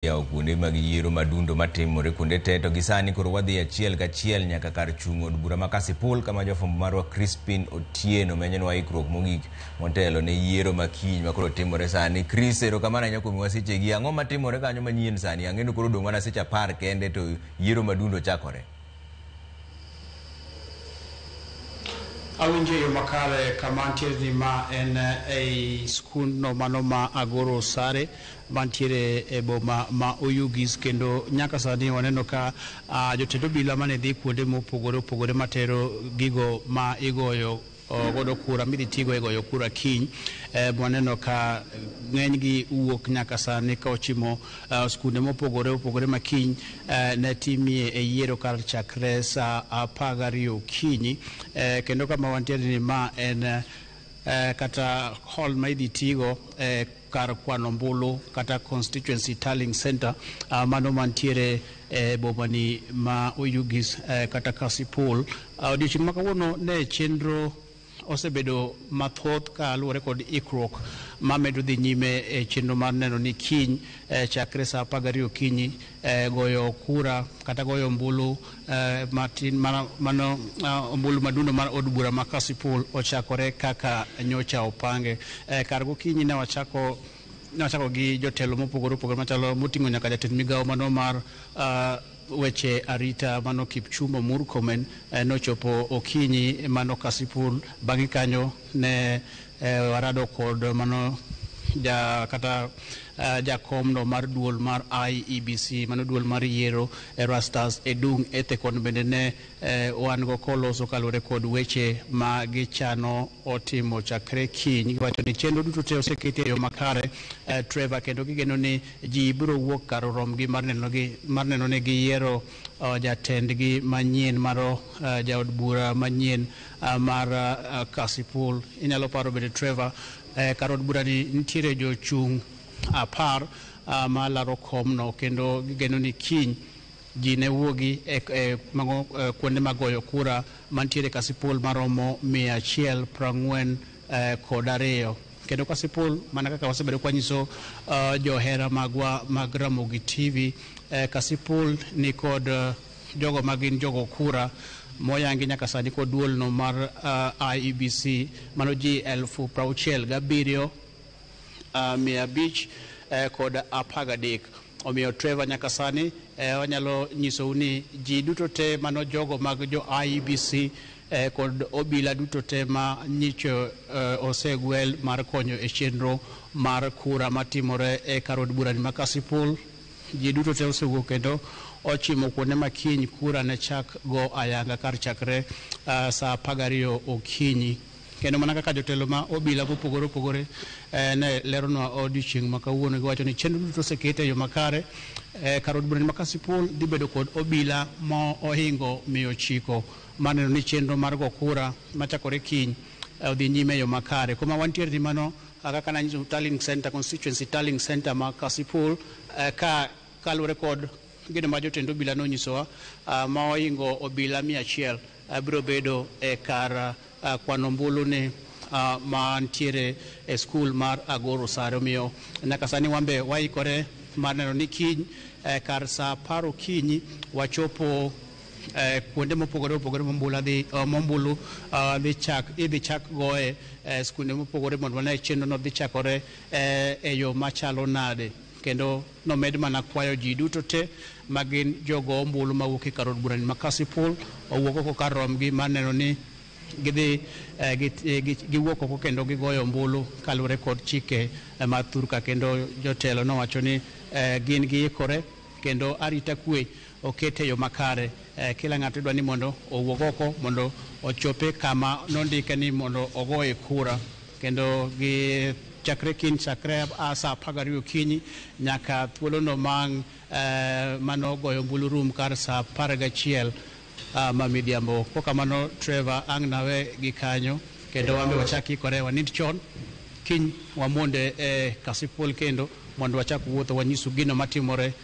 yawo kuonde mag yiero madundo matimore kuonde te to gisani koro wadhi achiel kachiel nyaka kar chung' od bura ma Kasipul kama jofwambo marwa Crispin Otieno menyenwa ikruok mogik motelo ne yiero ma kiny ma koro timore sani. Chris, erokamano ahinya kuom miwa sechegi. Ang'o matimore kanyo manyien sani? Ang'eyo koro odong' mana seche apar kende to yiero madundo chakore. Awinjo e yo makare kama antiere ni ma en ei skundno mano ma Agoro Sare mantiere e boma ma Oyugis kendo nyaka sani waneno ka a, ah, jotend obila mane dhi kuonde mopogore opogore matero gigo ma igoyo godo kura midhi tigo e goyo kura kiny e, waneno ka ng'enygi wuok nyaka sani ka ochimo e, skunde mopogore opogore ma kiny e, ne timie e yiero kar chakre sa apar gariyo okinyi kendo kama wantiere ni ma en eh, kata hall ma idhi tigo eh, kar kwano ombulu kata constituency tallying center uh, mano mantiere e eh, bomani ma Oyugis eh, kata Kasipul. Uh, odiochieng' ma kawuono ne chenro osebedo mathoth ka luwore kod ikruok ma medo dhi nyime e chenro mar neno ni kiny eh, chakre sa apar gariyo okinyi eh, goyo kura kata goyo ombulu eh, matin mano, mano ah, ombulu madundo mar od bura ma Kasipul ochakore kaka nyocha opange. Eh, kar gokinyi ne wachako ne wachako gi jotelo mopogore opogore machalo moting'o nyaka jatend migawo mano mar ah, weche arita mano Kipchumba Murkomen eh, nochopo okinyi mano Kasipul. Bang'e kanyo ne Eh, warado kod mano ja kata uh, jakomno mar duol mar IEBC mano duol mar yiero Erastus Edung Ethekon bende ne eh, wan go koloso kaluwore kod weche ma gichano otimo chakre kiny giwacho ni chenro duto te oseketi e yo makare eh, Trevor kendo gigeno ni ji biro wuok kar romgi mar neno gi mar neno ni giyiero uh, jatendgi manyien maro uh, jaod bura manyien uh, mar uh, Kasipul. Inyalo paro bende Trevor eh, kar od burani nitiere jochung' apar uh, ma laro komno kendo gigeno ni kiny ji ne wuogi e, e, mago, e, kuonde mag goyo kura mantiere Kasipul maromo mia achiel prang'wen eh, kod ariyo kendo Kasipul mana kaka wasebedo kwanyiso uh, johera magwa mag Ramogi TV eh, Kasipul ni kod uh, jogo ma gin jogo kura moyangi nyaka sani kod duolno mar uh, IEBC mano ji elfu prauchiel gabiriyo uh, mia abich eh, kod apagadek omiyo Trevor nyaka sani eh, wanyalo nyisou ni ji duto te mano jogo mag jo IEBC eh, kod obila duto te ma nyicho eh, osegwel mar konyo e chenro mar kura matimore e karod burani ma Kasipul Ji duto te osewuok kendo ochimo kuonde ma kiny kura ne chak go ayanga kar chakre saa apar gariyo okinyi. Kendo mana kaka jotelo ma obila mopogore opogore ne leronwa odiochieng' ma kawuono giwacho ni chenro duto oseket e yo makare. Kar od bura ma Kasipul dhi bedo kod obila ma ohingo mia ochiko mar neno ni chenro mar go kura machakore kiny odhi nyime e yo makare. Kuma wantiere ni mano Kaka ka nanyiso Tallying Center, Constituency Tallying Center ma Kasipul, eh, ka kaluwore kod gino ma jotend obila nonyisowa, ah, ma oingo obila mia achiel ah, biro bedo e kar ah, kwano ombulu ni ah, ma nitiere e skul mar Agoro Sare. Omiyo nyaka sani wan be waikore mar neno ni kiny eh, kar sa apar okinyi wachopo eh, kuonde mopogore opogore mombula dhi uh, mombulu uh, dhi chak idhi chak goye eh, skunde mopogore mondo wane chenro no dhi chakore eh, e yo machalo nade kendo nomed mana kwayo ji duto te ma gin jogo ombulu mawuok e kar od burani ma Kasipul owuok oko kar romgi mar neno ni gidhi eh, gi- eh, gi- giwuok oko kendo gigoyo ombulu kaluwore kod chike eh, mar thurka kendo jotelo nowacho ni eh, gin giikore kendo arita kwe oket e yo makare. Kila ng'ato idwa ni mondo owuog oko mondo ochope kama nondike ni mondo ogoye kura kendo gi chakre kiny chakre a saa apar gariyo okinyi nyaka thuolono ma eh, mano goyo ombulu rum kar saa apar gachiel ah, ma midhiambo. Ko kamano Trevor ang' nawe gi kanyo kendo wambe wachak ikore wanind chon kiny wamonde e kasipul kendo mondo wachak wuotho wanyisu gino matimore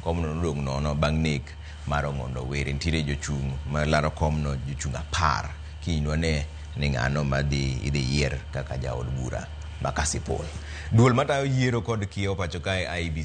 Komno nodong' nono bang' nek mar Ong'ondo Were. Nitiere jochung' ma laro komno jochung' apar. Kiny nwane ni ng'ano ma dhi idhi yier kaka jaod bura ma Kasipul. Duol matayo yiero kod kiewo pacho kae, IEBC,